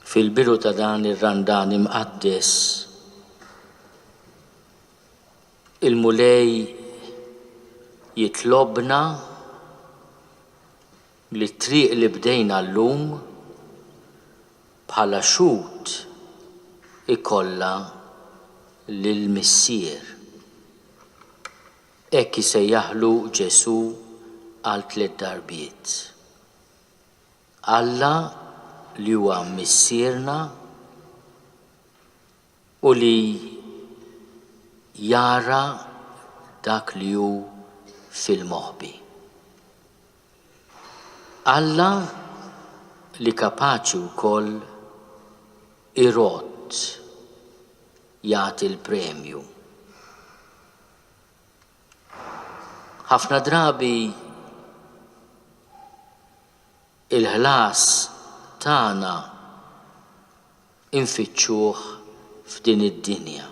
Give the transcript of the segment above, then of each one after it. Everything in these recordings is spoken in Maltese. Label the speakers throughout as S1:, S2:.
S1: fil-bidu ta' dan ir-Randan Imqaddes, il-Mulej jitlobna li t-triq li bdejna llum bħala xhud ikollha lill-Missier. Hekk isejjaħlu Ġesù għal tliet darbiet. Alla li huwa Missierna u li jara dak li hu fil-moħbi. Alla li kapaċi wkoll irodd jagħti l-premju. Ħafna drabi Il-ħlas tagħna infittxuh f'din id-dinja.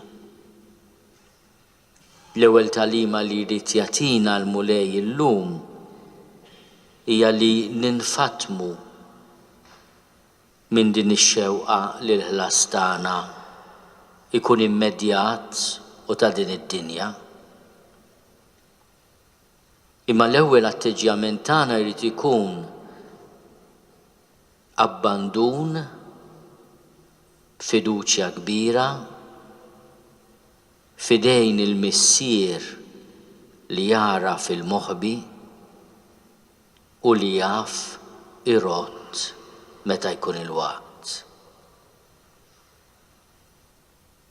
S1: L-ewwel tagħlima li jrid jagħtina l-Mulej illum hija li ninfatmu minn din ix-xewqa li l-ħlas tagħna jkun immedjat u ta' din id-dinja. Imma l-ewwel atteġġjament tagħna jrid ikun abbandun b'fiduċja kbira f'idejn il-Missier li jagħraf il-moħbi u li jaf irodd meta jkun il-waqt.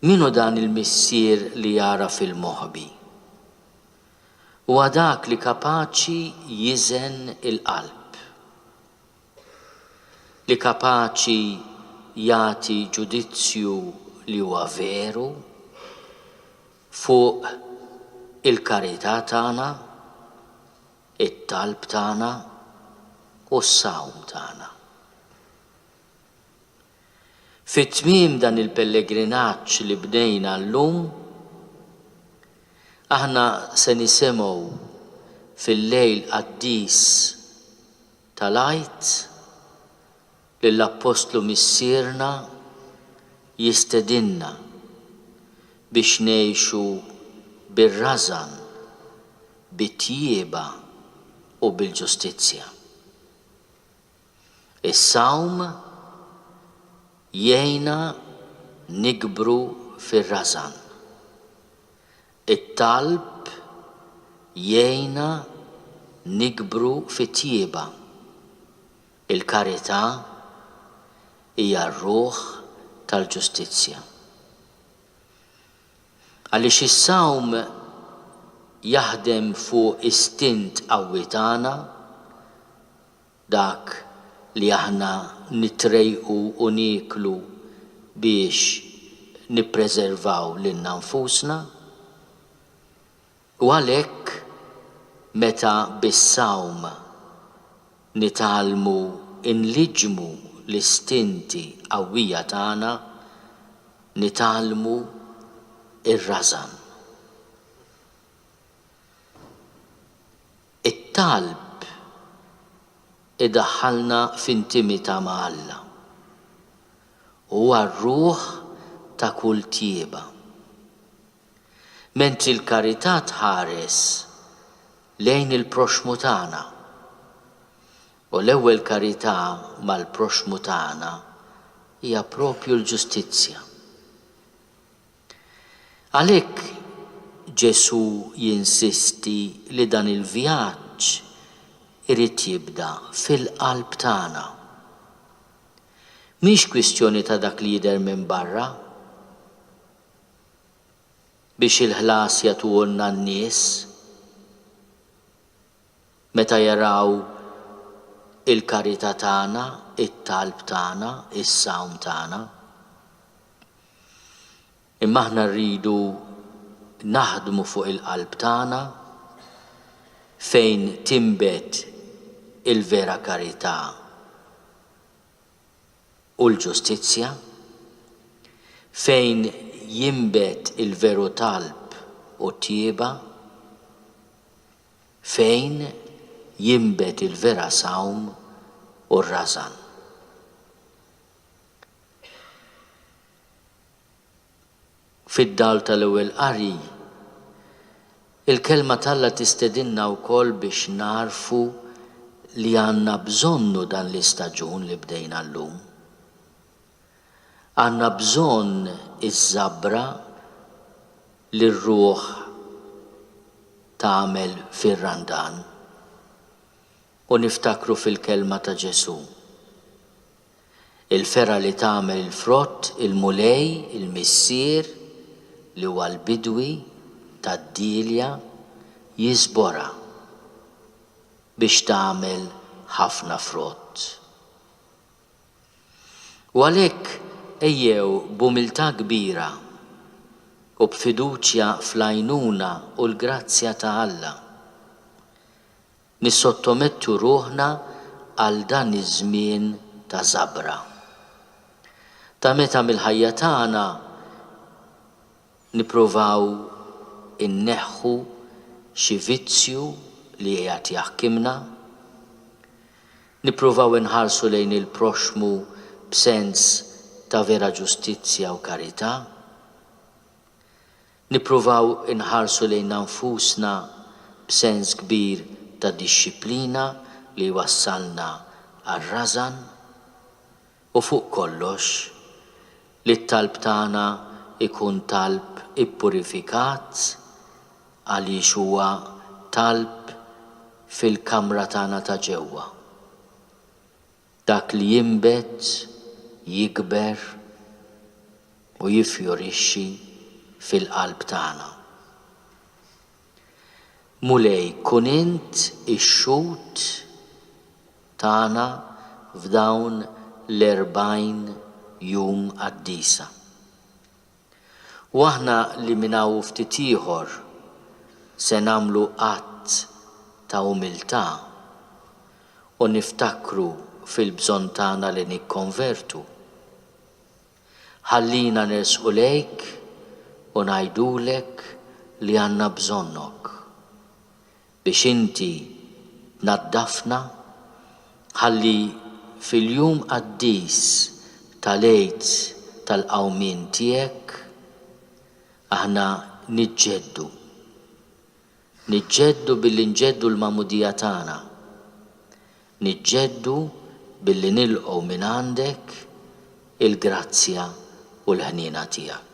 S1: Min hu dan il-Missier li jagħraf il-moħbi? Huwa dak li kapaċi jiżen il-qalb, li kapaċi jagħti ġudizzju li huwa veru fuq il-karità tagħna, it-talb tagħna u s-sawm tagħna. Fi tmiem dan il-pellegrinaġġ li bdejna llum, aħna se nisimgħu fil-lejl qaddis tal-Għid lill-Appostlu Missierna jistedinna biex ngħixu bir-rażan, bit-tjieba u bil-ġustizzja. Is-sawm jgħinna nikbru fir-rażan. It-talb jgħinna nikbru fit-tjieba. Il-karità hija r-ruħ tal-ġustizzja. Għaliex is-sawm jaħdem fuq istint qawwi tagħna, Dak li aħna nittrejqu u nieklu biex nippreservaw lilna nfusna. U għalhekk meta bis-sawm nitgħallmu nliġġmu l-istinti qawwija tagħna, nitgħallmu r-rażan. It-talb idaħħalna f'intimità ma' Alla. Huwa r-ruħ ta' kull tjieba. Mentri l-karità tħares lejn il-proxxmu tagħna, u l-ewwel karità mal-proxxmu tagħna hija proprju l-ġustizzja. Għalhekk Ġesù jinsisti li dan il-vjaġġ irid jibda fil-qalb tagħna. Mhix kwistjoni ta' dak li jidher minn barra. Biex il-ħlas jagħtuhulna n-nies. Meta jaraw il-karità tagħna, it-talb tagħna, is-sawm tagħna. Imma aħna rridu naħdmu fuq il-qalb tagħna fejn tinbet il-vera karità u l-ġustizzja, fejn jinbet il-veru talb u t-tjieba. fejn jinbet il-vera sawm u r-rażan. Fid-dawl tal-Ewwel Qari, il-Kelma t'Alla tistedinna wkoll biex nagħrfu li għandna bżonnu dan l-istaġun li bdejna llum. Għandna bżonn iż-żabra li r-ruħ tagħmel fir-Randan u niftakru fil-kelma ta' Ġesù, Il-fergħa li tagħmel il-frott il-Mulej, il-Missier, li huwa l-bidwi tad-dielja, jiżborha biex tagħmel ħafna frott. U għalhekk ejjew b'umiltà kbira u b'fiduċja fl-għajnuna u l-grazzja ta' Alla, nissottomettu ruħna għal dan iż-żmien ta' żabra, ta' meta mill-ħajja tagħna nippruvaw inneħħu xi vizzju li qiegħed jaħkimna, Nippruvaw inħarsu lejn il-proxxmu b'sens ta' vera ġustizzja u karità? Nippruvaw inħarsu lejna nfusna b'sens kbir ta' dixxiplina li jwassalna għar-rażan? U fuq kollox, li t-talb tagħna jkun talb ippurifikat għaliex huwa talb fil-kamra tagħna ta' ġewwa. Dak li jinbet, jikber u jiffjorixxi fil-qalb tagħna. Mulej, kun int ix-xhud tagħna f'dawn l-erbgħin jum qaddisa. U aħna li minn hawn u ftit ieħor se nagħmlu att ta' umiltà u niftakru fil-bżonn tagħna li nikkonvertu, Ħallina nersqu lejk u ngħidulek li għandna bżonnok biex inti tnaddafna ħalli fil-jum qaddis tal-Għid tal-Qawmien tiegħek aħna niġġeddu Niġġeddu billi nġeddu l-magħmudija tagħna. Niġġeddu billi nilqgħu mingħandek il-grazzja u l-ħniena tiegħek.